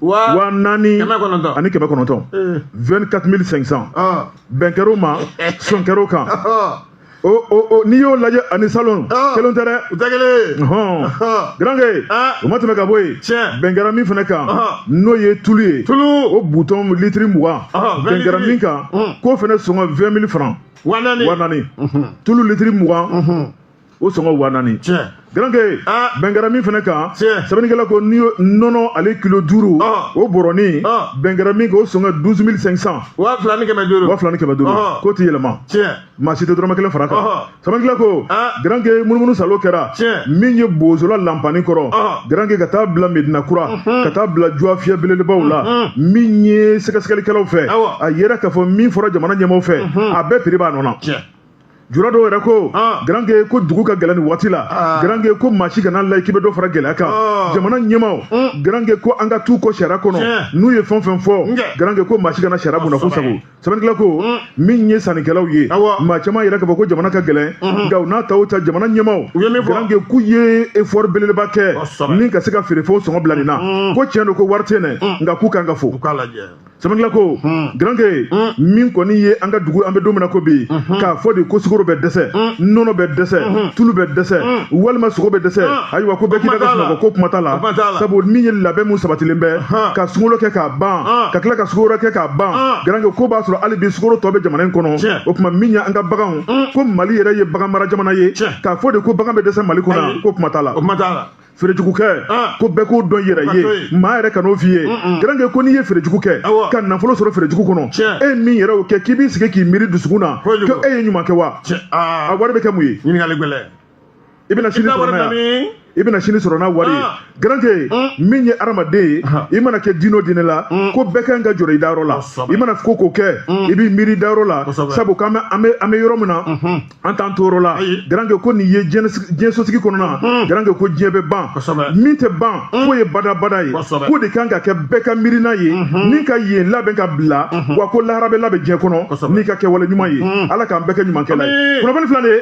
waa naani ani kɛmɛ kɔnɔntɔn vingt quatre mille cinq cent bɛn kɛr'o ma sɔn kɛr'o kan n'i y'o lajɛ ani salon kelen tɛ dɛ u tɛ kelen garanke o ma tɛmɛ ka bɔ yen bɛn kɛra min fana kan n'o ye tulu ye tulu o butɔn litiri mugan bɛn kɛra min kan k'o fana sɔngɔ vingt mille franc wa naani wa naani tulu litiri mugan o sɔngɔ wa naani garanke bɛn kɛra min fana kan sɛbɛnnikɛla ko n'i nɔnɔ ale kilo duuru o bɔrɔnin bɛn kɛra min kan o sɔngɔ douze mille cinq cent wa fila ni kɛmɛ duuru
wa fila ni kɛmɛ duuru k'o ti yɛlɛma
maa si tɛ dɔrɔmɛ kelen far'a kan sɛbɛnnikɛla ko garanke munumunu saalo kɛra min ye bozola lanpani kɔrɔ garanke ka taa bila medina kura mhm. ka taa bila juwa fiyɛ belebelebaw la mhm. min ye sɛgɛsɛgɛlikɛlaw fɛ a yera k'a fɔ min fɔra jamana ɲɛmaaw fɛ mhm. a bɛɛ prix b'a nɔ na jura dɔw yɛrɛ ko ah. garanke ko dugu ka gɛlɛn nin waati la ah. garanke ko maa si kan'a lajɛ k'i bɛ dɔ fara gɛlɛya kan ah. jamana ɲɛmaaw mm. garanke ko an ka t'u kɔ sariya kɔnɔ n'u ye fɛn fɛn fɔ garanke ko maa si kana sariya bɔnna k'o sagon sɛbɛnnikɛla ko min ye sannikɛlaw ye maa caman y'a yira k'a fɔ ko jamana ka gɛlɛn nka u n'a ta o ta jamana ɲɛmaaw garanke k'u ye effort belebeleba kɛ ni ka se ka feerefɛnw sɔngɔ bila nin na ko tiɲɛ don ko wari tɛ yen dɛ nka k'u kan ka fo sɛbɛnnikɛla ko garanke min kɔni ye an ka dugu an bɛ don min na ko bi k'a fɔ de ko sukoro bɛ dɛsɛ nɔnɔ bɛ dɛsɛ tulu bɛ dɛsɛ walima sogo bɛ dɛsɛ ayiwa ko bɛɛ k'i da ka sunɔgɔ ko kuma t'a la sabu min ye labɛn mun sabatilen bɛ ka sunkalo kɛ k'a ban ka tila ka sukoro kɛ k'a ban garanke ko b'a sɔrɔ hali bi sukoro tɔ bɛ jamana in kɔnɔ o tuma min ye an ka baganw ko mali yɛrɛ ye bagan mara jamana ye k'a fɔ de ko bagan bɛ dɛsɛ mali kɔnɔ ko kuma t'a la feerejugu kɛ ah. ko bɛɛ k'o dɔn yɛrɛ ye maa yɛrɛ kan'o f'i ye garanke ko n'i ye feerejugu kɛ ka nafolo sɔrɔ feerejugu kɔnɔ e min yɛrɛ y'o kɛ k'i b'i sigi k'i miiri dusukun na ko e ye ɲuman kɛ wa ah. a wari bɛ kɛ mun ye i
bɛna
sini sɔrɔ n'a ye i bɛna sini sɔrɔ n'a wari ye ah. garanke ah. min ye adamaden ye ah. i mana kɛ diinɛ o diinɛ la ko bɛɛ kan ka jɔrɔ i dayɔrɔ la i mana ko o ko kɛ i b'i miiri dayɔrɔ la sabu k'an bɛ an bɛ an bɛ yɔrɔ min na mhm. an t'an toyɔrɔ la garanke ko nin ye diɲɛ sosigi kɔnɔna mhm. garanke ko diɲɛ bɛ ban min tɛ ban mhm. k'o ye badabada ye k'o de kan ka kɛ bɛɛ ka miirina ye ni ka yen labɛn ka bila wa ko lahara bɛ labɛn diɲɛ kɔnɔ n'i ka kɛwale ɲuman ye ala k'an bɛɛ kɛ ɲumankɛla ye kunnafoni fila de ye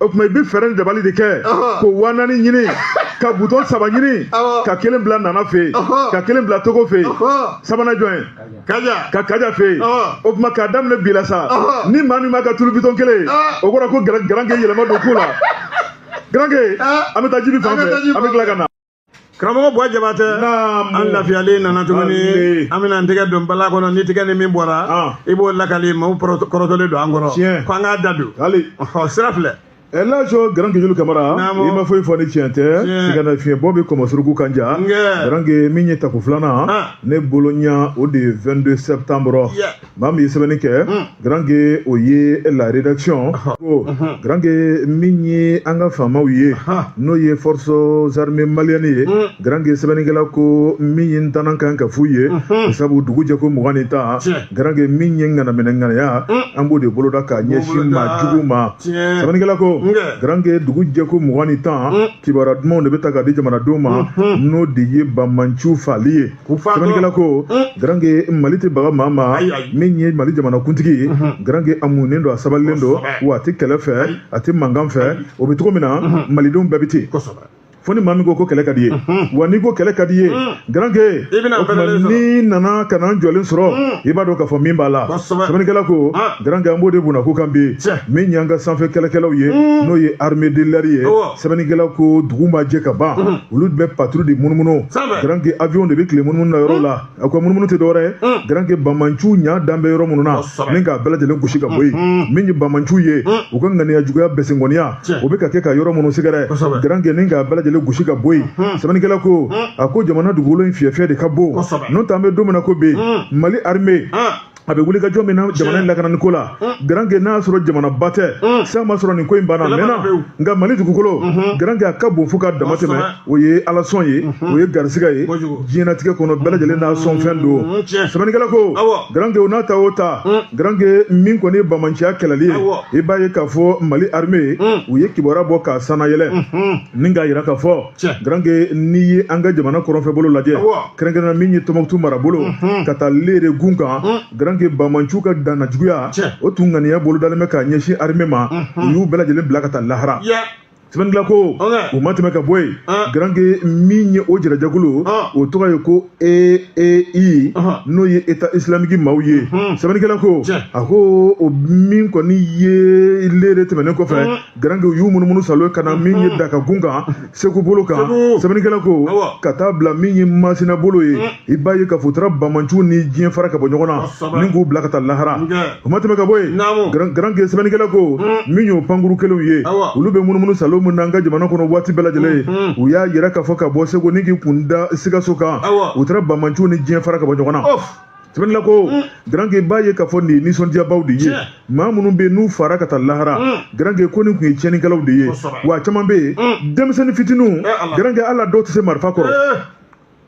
o tuma i bɛ fɛɛrɛ ni dabali de kɛ ko wa naani ɲini ka bidɔn saba ɲini ka kelen bila nana fɛ yen ka kelen bila togo fɛ yen sabanan jɔn ye ka kaja fɛ yen o tuma k'a daminɛ bi la sa ni maa min m'a ka tulu bidɔn kelen ye o kɔrɔ ko garanke yɛlɛma don ko la garanke an bɛ taa jibi fan fɛ an bɛ tila ka na karamɔgɔ
buwa jabatɛ an lafiyalen nana tuguni an bɛna an tɛgɛ don bala kɔnɔ ni tigɛ ni min bɔra i b'o lakali maaw kɔrɔtɔlen don an kɔrɔ ko an k'a da don ɔ sira filɛ ɛlaji
garanke julu kamara i ma foyi fɔ ni tiɲɛ tɛ sigana fiɲɛbɔ bɛ kɔmɔsuruku kan ja garanke min ye tako filanan ne bolo yan o de ye 22 septembre maa min ye sɛbɛnni kɛ garanke o ye la rédaction ko garanke min ye an ka faamaw ye n'o ye forces armées maliennes ye garanke sɛbɛnnikɛla ko min ye ntanan kan ka f'u ye sabu dugu jɛko mugan ni tan garanke min ye ŋanaminɛ ŋanaya an b'o de boloda ka ɲɛsin maa jugu ma sɛbɛnnikɛla ko garanke dugu jɛko mugan ni tan kibaruya dumanw de bɛ ta ka di jamanadenw ma n'o de ye bamanciw faali ye sɛbɛnnikɛla ko garanke mali tɛ baga maa ma min ye mali jamana kuntigi ye garanke a munnen don a sabalilen don wa a tɛ kɛlɛ fɛ a tɛ mankan fɛ o bɛ cogo min na malidenw bɛɛ bɛ ten fo ni maa min ko ko kɛlɛ ka d'i ye wa n'i ko kɛlɛ ka d'i ye garanke o tuma n'i nana ka n'an jɔlen sɔrɔ i b'a dɔn k'a fɔ min b'a la sɛbɛnnikɛla ko garanke an b'o de bunako kan bi min y'an ka sanfɛ kɛlɛkɛlaw ye n'o ye armée de l'air ye sɛbɛnnikɛla ko dugu ma jɛ ka ban mhm. olu bɛ patrouille de munumunu garanke avion de bɛ tile munumunu na yɔrɔ la mhm. a ko munumunu tɛ dɔwɛrɛ ye mhm. garanke bamanciw ɲaa dan bɛ yɔrɔ minnu na ni k'a bɛɛ lajɛlen gosi ka bɔ yen min ye bamanciw ye u ka ŋaniya juguya bɛsengɔniya o bɛ ka kɛ ka yɔrɔ minnu sɛgɛrɛ garanke ni k'a bɛɛ lajɛlen gosi ka bɔ yen sɛbɛnnikɛla ko a ko jamana dugukolo in fiyɛfiyɛ de ka bon n'o tɛ an bɛ don min na ko bi mali armée a bɛ wuli ka jɔ min na jamana in lakanani ko la garanke n'a y'a sɔrɔ jamanaba tɛ san ma sɔrɔ nin ko in banna a mɛnna nka mali dugukolo garanke a ka bon fo ka dama tɛmɛ o ye ala sɔn ye o ye garisigɛ ye diɲɛnatigɛ kɔnɔ bɛɛ lajɛlen n'a sɔnfɛn don sɛbɛnnikɛla ko garanke o n'a ta o ta garanke min kɔni ye bamanciya kɛlɛli ye i b'a ye k'a fɔ mali armée u ye kibaruya bɔ k'a sannayɛlɛ ni k'a jira k'a fɔ garanke n'i ye an ka jamana kɔrɔnfɛbolo lajɛ kɛrɛnkɛrɛnna min ye tɔnbukutu marabolo mhm. ka taa lere gun kan mhm. garanke bamanciw ka danna juguya o tun ŋaniya bolodalen bɛ k'a ɲɛsin armée ma mhm. u y'u bɛɛ lajɛlen bila ka taa lahara sɛbɛnnikɛla ko o ma tɛmɛ ka bɔ yen garanke min ye o jɛrɛjɛkulu o tɔgɔ ye ko eei n'o ye état islamique maaw ye sɛbɛnnikɛla ko a ko o min kɔni ye lere tɛmɛnen kɔfɛ garanke u y'u munumunu salo ka na min ye daka gun kan segu bolo kan sɛbɛnnikɛla ko ka taa bila min ye masina bolo ye i b'a ye k'a fɔ u taara bamanciw ni diɲɛ fara ka bɔ ɲɔgɔn na ni k'u bila ka taa lahara o ma tɛmɛ ka bɔ yen garanke sɛbɛnnikɛla ko min y'o pankurun kelenw ye olu bɛ munumunu salo min na an ka jamana kɔnɔ waati bɛɛ lajɛlen ye u y'a yira k'a fɔ ka bɔ segu ni k'i kun da sikaso kan u taara bamanciw ni diɲɛ fara ka bɔ ɲɔgɔn na sɛbɛnni la ko garanke b'a ye k'a fɔ nin ye nisɔndiyabaw de ye maa minnu bɛ yen n'u faara ka taa lahara garanke ko nin tun ye tiɲɛnikɛlaw de ye wa caman bɛ yen denmisɛnnin fitininw garanke hali a dɔw tɛ se marifa kɔrɔ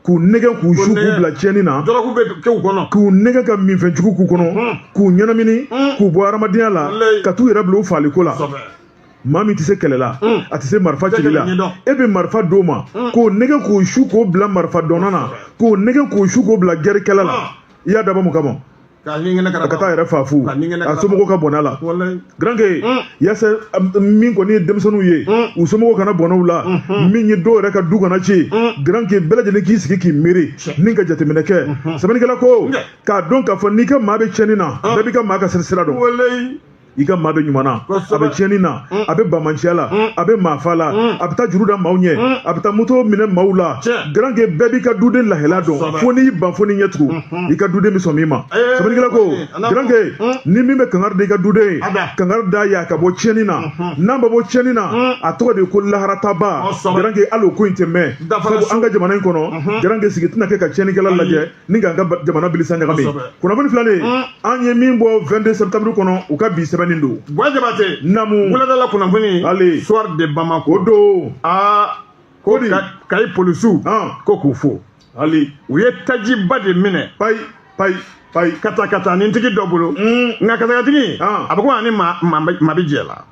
k'u nɛgɛ k'u su k'u bila tiɲɛni na k'u nɛgɛ ka minfɛnjugu k'u kɔnɔ k'u ɲɛnamini k'u bɔ hadamadenya la ka t'u yɛrɛ bila u faaliko la maa min tɛ se kɛlɛ la mm. a tɛ se marifa cili la e bɛ marifa d'o ma mm. k'o nɛgɛ k'o su k'o bila marifa dɔnna na k'o nɛgɛ k'o su k'o bila gɛrikɛla la ah. i y'a dabɔ mun kama ka t'a yɛrɛ faa fu a somɔgɔw ka bɔnɛ a la garanke mm. yaasa min kɔni ye denmisɛnninw ye u somɔgɔw kana bɔnɛ u la mm-hmm. min ye dɔw yɛrɛ ka du kana ci garanke bɛɛ lajɛlen k'i sigi k'i miiri ni ka jateminɛ kɛ mm-hmm. sɛbɛnnikɛla ko k'a dɔn k'a fɔ n'i ka maa bɛ tiɲɛni na ah. bɛɛ b'i ka maa ka sira dɔn i ka maa bɛ ɲuman na a bɛ tiɲɛni na mm. a bɛ bamanciya la mm. a bɛ maafa la mm. a bɛ taa juru da maaw ɲɛ a bɛ taa moto minɛ maaw la garanke bɛɛ b'i ka duden lahala dɔn fo n'i ban fo n'i ɲɛ tugu mm-hmm. i ka duden bɛ sɔn min ma eh, sɛbɛnnikɛla ko garanke ni min bɛ kangari da i ka duden ye kangari d'a y'a ka bɔ tiɲɛni na mm-hmm. n'an bɛ bɔ tiɲɛni na a tɔgɔ de ye ko laharataabaa garanke hali o ko in tɛ mɛɛn sabu an ka jamana in kɔnɔ garanke mm-hmm. sigi tɛna kɛ ka tiɲɛnikɛla lajɛ ni k'an ka jamana bilisa ɲagami kunnafoni filanan mm. an ye min bɔ 22 septembre kɔnɔ u ka bi sɛbɛnni don ba jabate namu
wuladala
kunnafoni
le soir de
bamako o
don aa
ko
kayi polisiw ko k'u fo hali u
ye
tajiba de minɛ payi payi payi
katakatanintigi
dɔ bolo mm. nka katakatigi a bɛ ko a ni maa bɛ jɛ la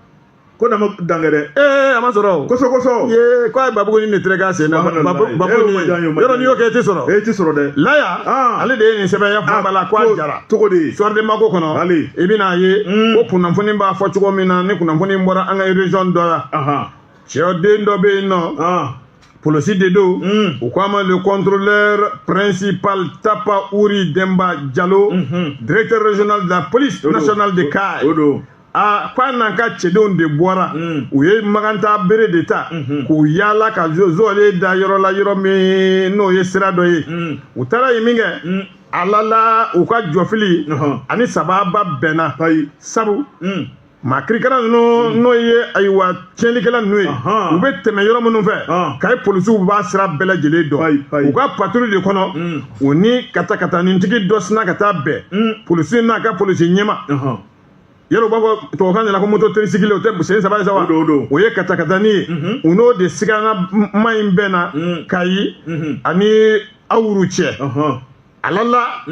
ko na
ma dankɛ dɛ ee a ma sɔrɔ
kosɛbɛ kosɛbɛ ye ko
a ye
babugunin de tigɛ k'a sen na Subhanallah. babu- Eh, babugunin o ma diya n ye, o ma yɔrɔ diya n n'i ye. y'o kɛ i tɛ sɔrɔ e ti sɔrɔ dɛ laya Ah.
ale de
ye nin sɛbɛn y'a fɔ ba la ko a jara cogo di soir de bamako
kɔnɔ Bali.
i bɛna a ye Mm. ko kunnafoni b'a fɔ cogo min na ni kunnafoni bɔra an ka région dɔ la ahan cɛden dɔ bɛ yen n'o ah polisi de don Mm. u ko a ma le contrôleur principal tapa uri denba jalo Mhm. directeur régional de la police O don. nationale de O- o kayi don aa ko a n'an ka cɛdenw de bɔra mm. u ye maganta bere de ta mm-hmm. k'u yaala ka zɔɔle da yɔrɔ la yɔrɔ min n'o ye sira dɔ ye mm. u taara yen min kɛ mm. a lala u ka jɔfili uh-huh. ani sababa bɛnna sabu maa kirikara ninnu n'o ye ayiwa tiɲɛlikɛla ninnu ye u bɛ tɛmɛ yɔrɔ minnu fɛ kayi polisiw b'a sira bɛɛ lajɛlen dɔn u ka paturu de kɔnɔ u ni katakatanintigi dɔ sina ka taa bɛn polisi n'a ka polisi ɲɛma yɛrɛ u b'a fɔ tubabukan de la ko moto tricycle o tɛ sen saba ye sa wa o ye katakatani ye mhm. u n'o de siganama in bɛnna mhm. kayi mhm. ani awuru cɛ a lala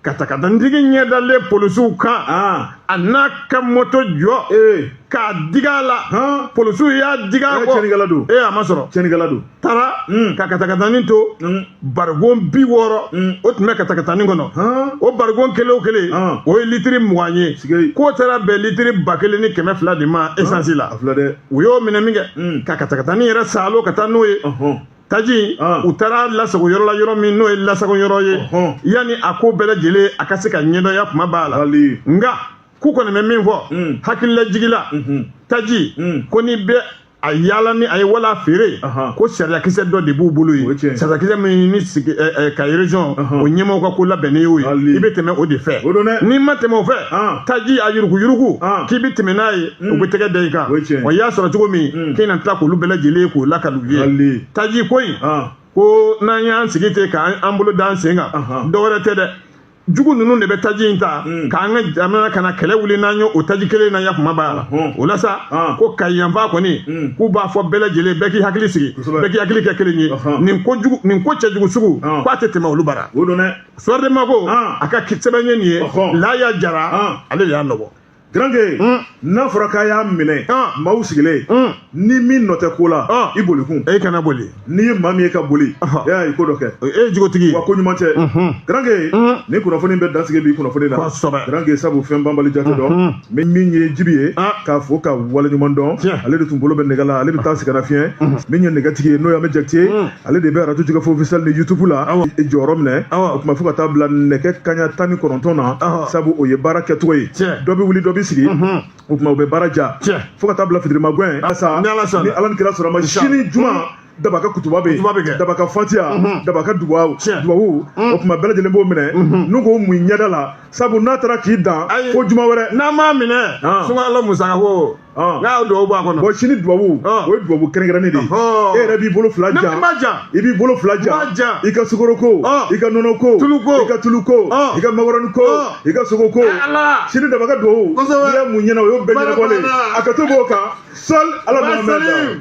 katakatanitigi ɲɛdalen polisiw kan ah. a n'a ka moto jɔ eh. k'a diga a la polisiw y'a diga a kɔ a ma sɔrɔ
taara mm.
ka katakatanin to mm. barigon bi wɔɔrɔ mm. o tun bɛ katakatanin kɔnɔ o barigon kelen o kelen o ye litiri mugan ye k'o taara bɛn litiri ba kelen ni kɛmɛ fila de ma esansi la u y'o minɛ min kɛ ka katakatanin yɛrɛ saalo ka taa n'o ye taji u taara lasago yɔrɔ la yɔrɔ min n'o ye lasago yɔrɔ ye yanni a ko bɛɛ lajɛlen a ka se ka ɲɛdɔnya kuma b'a la nka k'u kɔni bɛ min fɔ hakililajigila taji ko n'i bɛ a yaala ni a ye wala a feere ko sariyakisɛ dɔ de b'u bolo yen sariyakisɛ min ni kayi région o ɲɛmaaw ka ko labɛnnen y'o ye i bɛ tɛmɛ o de fɛ n'i ma tɛmɛ o fɛ taji a yuruku yuruku k'i bɛ tɛmɛ n'a ye u bɛ tɛgɛ da i kan wa i y'a sɔrɔ cogo min k'i na tila k'olu bɛɛ lajɛlen k'o lakali u ye taji ko in ko n'an y'an sigi ten k'an bolo d'an sen kan dɔwɛrɛ tɛ dɛ jugu ninnu de bɛ taji in ta hmm. k'an ka jamana ka na kɛlɛ wuli n'an ye o taji kelen na ya kuma b'a la hmm. o la sa ah. ko kayi yanfan kɔni hmm. k'u b'a fɔ bɛɛ lajɛlen bɛɛ k'i hakili sigi bɛɛ k'i hakili kɛ kelen ye nin ko cɛjugu sugu ah. k'a tɛ tɛmɛ olu bara Soir de Bamako ah. a ka sɛbɛn ye nin ye Laya Jara ale de y'a nɔbɔ
Garange n'a fɔra k'a y'a minɛ maaw sigilen ni min nɔ tɛ ko la i boli kun e kana boli n'i ye
maa min ye ka boli
e y'a ye ko dɔ kɛ e ye jogotigi wa ko
ɲuman cɛ
garange ni kunnafoni bɛ dansigi bi kunnafoni la garange sabu fɛn banbali jate dɔn min ye jibi ye k'a fɔ ka wale ɲuman dɔn ale de tun bolo bɛ nɛgɛ la ale bɛ taa sigana fiɲɛ min ye nɛgɛtigi ye n'o ye Ahmed Jakite ale de bɛ arajo Jɛkafɔ officiel ni yutubu la jɔyɔrɔ minɛ o tuma fo ka taa bila nɛgɛ kaɲa tan ni kɔnɔntɔn na sabu o ye baara kɛcogo ye dɔ bɛ wuli dɔ bɛ sigi o tuma u bɛ baara ja fo ka taa bila fitirima gɛn ni ala ni kira sɔrɔ ma sini juma daba ka kutuba bɛ yen daba ka fatiya mhm. daba ka dubabu mhm. o tuma bɛɛ lajɛlen b'o minɛ mhm. n'u ko mun ɲɛda la sabu n'a taara k'i dan fo juma wɛrɛ n'a m'a minɛ
sunkalo musaka ko n'a y'o dubabu b'a kɔnɔ sini dubabu
o ye dubabu kɛrɛnkɛrɛnnen de ye e yɛrɛ b'i bolo fila ja i b'i bolo fila ja i ka sukoroko i ka nɔnɔko i ka tuluko i ka makɔrɔniko i ka sogoko sini daba ka dubabu n'i ye mun ɲɛna o y'o bɛɛ ɲɛnabɔlen a ka to b'o kan sali ala ma mɛn